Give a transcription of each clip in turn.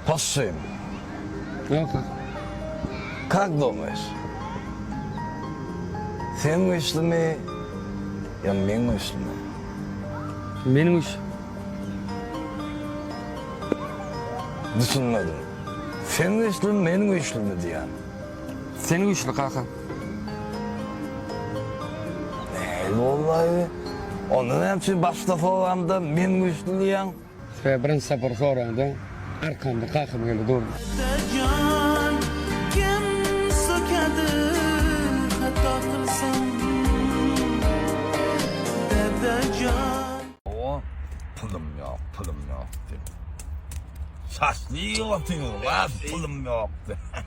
Hoşsyn. Ýa-da. Kak doňeş. Sen güýçlimi? Ýa men güýçlimi? Men güýç. Düşünmedim. Sen güýçlimi, men güýçlimi diýýän. Sen güýçli kaka. Näil bollaýby? Onda näme üçin başda soranda men güýçli diýýäň? Sebäbi birinji sapar soranda arkamda Kaky geldi durdy. O pulum ýok, pulum ýok diýip. Saçly ýigit otyr, wah pulum ýok diýip.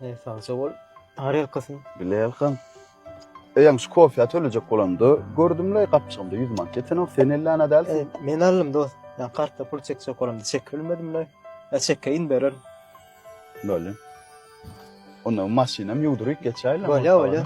Eý sagja bol. Ar ýalkasyn. Bileýalkam. Eýýäm şu kofýa tölejek bolamda gördümle gapjygymda ýüz manat ýetenok sen elli ana dälsiň. Men aldym dost. Ýa kartda pul çekjek bolamda çekip bilmedimle. Ýa çekge indi bererin. Bolýa. Onda maşynam ýuwduryp geçäýlem. Bolýa bolýa.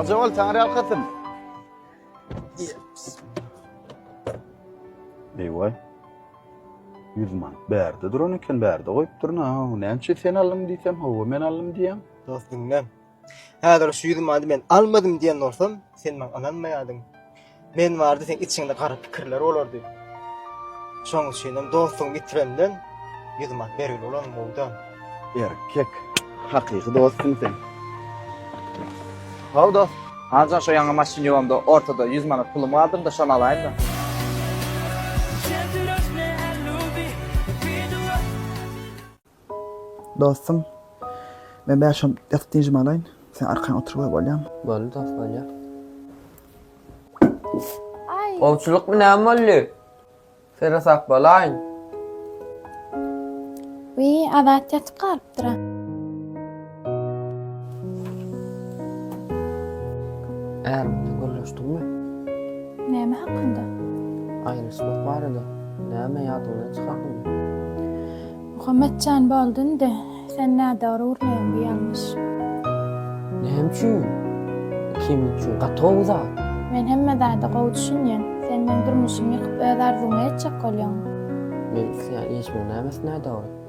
Sagja bol, Taňryýalkasyn. Eý-waý. Ýüz manat bärde duran eken, bärde goýupdyr-na. Näme üçin sen aldyň diýsem, hawa men aldym diýýän. Dost diňle. Häzir şu ýüz many men almadym diýen bolsam, sen maňa ynanmaýardyň. Men bardy sen içiňde gara pikirler bolardy. Şoň üçin hem dostuňy bitirenden ýüz man bergil bolan gowda. Erkek. Hakyky dostuň sen. How dost. Hanjan şo ýaňy maşyn ýuwamda ortada ýüz manat pulum bardyrdy, şony alaýyn-da. Dostum, men bäş on ýatyp dynjymy alaýyn, sen arkaýyn oturyp goý, bolýamy? Boldy dost, bolýar. Gowçulykmy, näme boldy? Sere sap bolaýyň. Wiý, Azat ýatyp galypdyr-a. Är bilen gürleşdiňmi? Näme hakynda? Aýrylyşmak barada. Näme, ýadyňdan çykardyňmy? Muhammet jan, boldy indi. Sen nädogry gürleýäň, bu ýalňyş. Näme üçin? Kim üçin? Gaty gowy zat. Men hemme zada gowy düşünýän. Sen meň durmuşymy ýykyp, öz arzuwyňa ýetjek bolýaňmy? Men isleýän işimiň nämesi nädogry?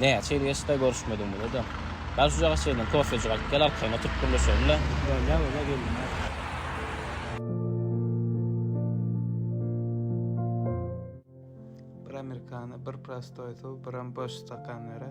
Näçe ýyl geçdi-da görüşmedik bize-de. Bar şujagaz çenli kofejik alyp gel arkaýyn oturyp gürleşelim-le. Bolýa bolýa geldim-ä. Bir amerikano, bir prostoý suw, biram boş stakan bere.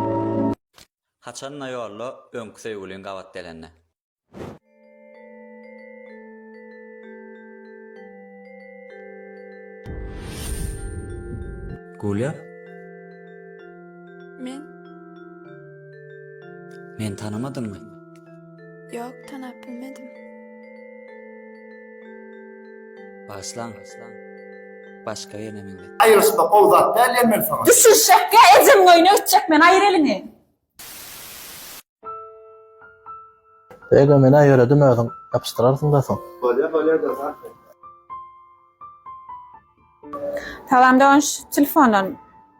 Haçanda ýolda öňki söýgüliň gabat gelende. Gulýa? Men. Meni tanamadyňmy? Ýok, tanap bilmedim. Başlan. Başka yerine mi gittin? Aýryşmak gowy zat däl Emel saňa. Düşünişekge ejeň öýüne ötjek men aýyr eliňi. Ego menä ýöredim özüň ýapyşdyrarsyňda soň. Bolýa bolýa dosatmy. Salam dogan şu telefondan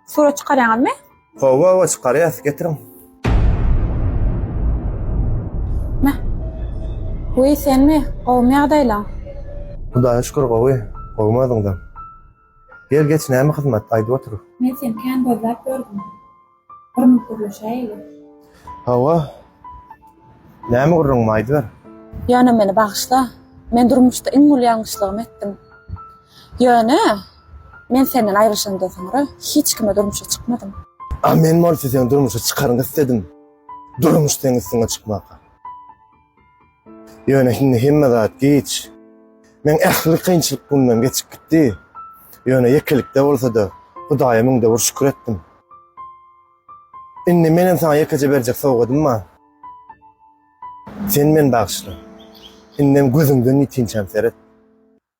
surat çykarýaňyzmy? Hawa hawa çykarýas getiriň. Mä. Weý senmi? Gowumy ýagdaýlaň? Hudaýa şükür gowy. Gowumy özüňden? Gel geç näme hyzmat aýdyp otur. Men seni kän gözläp ýördüm. Gürrüň gürleşäýeli. Hawa. Näme gürrüňmi aýdyber. Ýöne meni bagyşla. Men durmuşda iň uly ýalňyşlygymy etdim. Ýöne men senden aýrylyşandan soňra hiç kime durmuşa çykmadym. A men bolsa seni durmuşa çykaryn isledim. Durmuş seň üstüňe çykmaka. Ýöne şimdi hemme zat giç. Meň ähli kynçylyk mundan geçip gitdi. Ýöne ýekelikde bolsa-da, Hudaýa müň döwür şükür etdim. Indi menem saňa ýekeje berjek sowgadym bar. Sen meni bagyşla. Indem gözüňden ýitinçäm seret.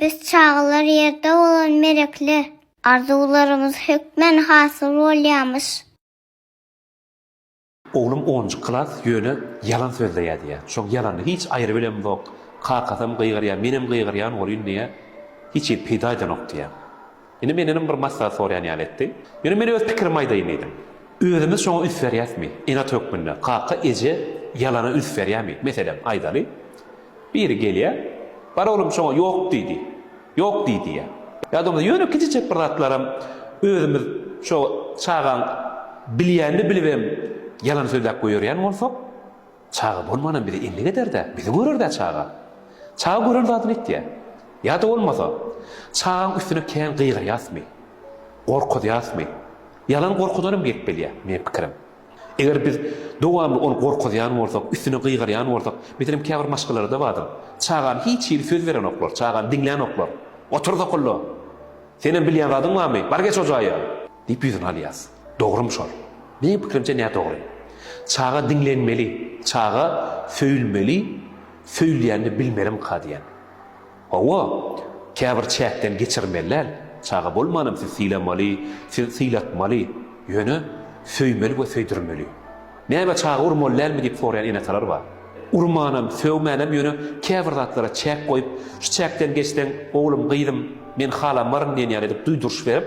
Biz çagalar ýerde bolan merekler. Arzuwlarymyz hökmän hasyl bolýamyş. Oglum onunjy klas ýöne ýalan sözde ýazýar. Şoň ýalanyny hiç aýry bilemzok. Kakasam gygyrýar, menem gygyrýan bolýyn diýýär. Hiç zat peýda edenok diýýär. Indi mendenem bir maslahat soraýan ýaly etdi. Ýöne men öz pikirimi aýdaýyn diýdim. Özümiz şoňa üns berýäsmi? Enat hökmünde kaka, eje ýalana üns berýärmi? Meselem, aýdaly, biri gelýär, Bar oglum şoňa ýok diý diý. Ýok diý diýýär. Ýa-da bolmasa ýöne kiçijek bir zatlaram özümiz şo çagaň bilýänini bilibem ýalan sözläp goýerýän bolsak, Çaga bolmanam bize endik eder-dä, bizi görer-dä çaga. Çaga gören zadyny etýä. Ýa-da bolmasa, çagaň üstüne kän gygyrýasmy? Gorkuzýasmy? Ýalan gorkudanam gelip bilýä, meň pikirim. Eger biz dowamly ony gorkuzýan bolsak, üstüne gygyrýan bolsak, meselem, käbir maşgalalarda bardyr, çagany hiç hili söz berenoklar, çagany diňlänoklar. Otur sokulla! Senem bilýän zadyň barmy? Bar geç o jaýa! Diýip ýüzüni alýas. Dogrymy şol? Meň pikirimçe nä dogry. Çaga diňlenmeli, çaga söýülmeli, söýülýänini bilmelimka diýen. Hawa, käbir çäkden geçirmelidäl. Çaga bolmanam siz sylamaly, siz sylatmaly, ýöne söýmeli we söýdürmeli. Näme çaga urmaly dälmi diýip soraýan ene-atalar bar. Urmanam, sögmänem ýöne käbir zatlara çäk goýup, şu çäkden geçseň, oglum, gyzym, men halamaryn diýen ýaly edip duýduryş berip,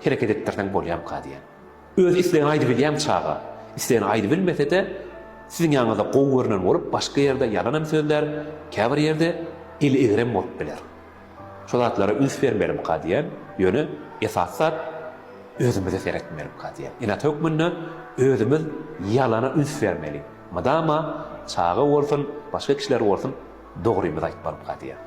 hereket etdirseň bolýamyka diýýän. Öz islegini aýdybilýämi çaga? Islegini aýdybilmese-de, siziň ýanyňyzda gowy görnen bolup, başga ýerde ýalanam sözlär, käbir ýerde eli egrem bolup biler. Şu zatlara üns bermelimka diýen, ýöne esasy zat özümize seretmelimka diýen. Ene-ata hökmünde özümiz ýalana üns bermeli. Mydama çaga bolsun, başga kişiler bolsun dogrymyzy aýtmalyka diýen.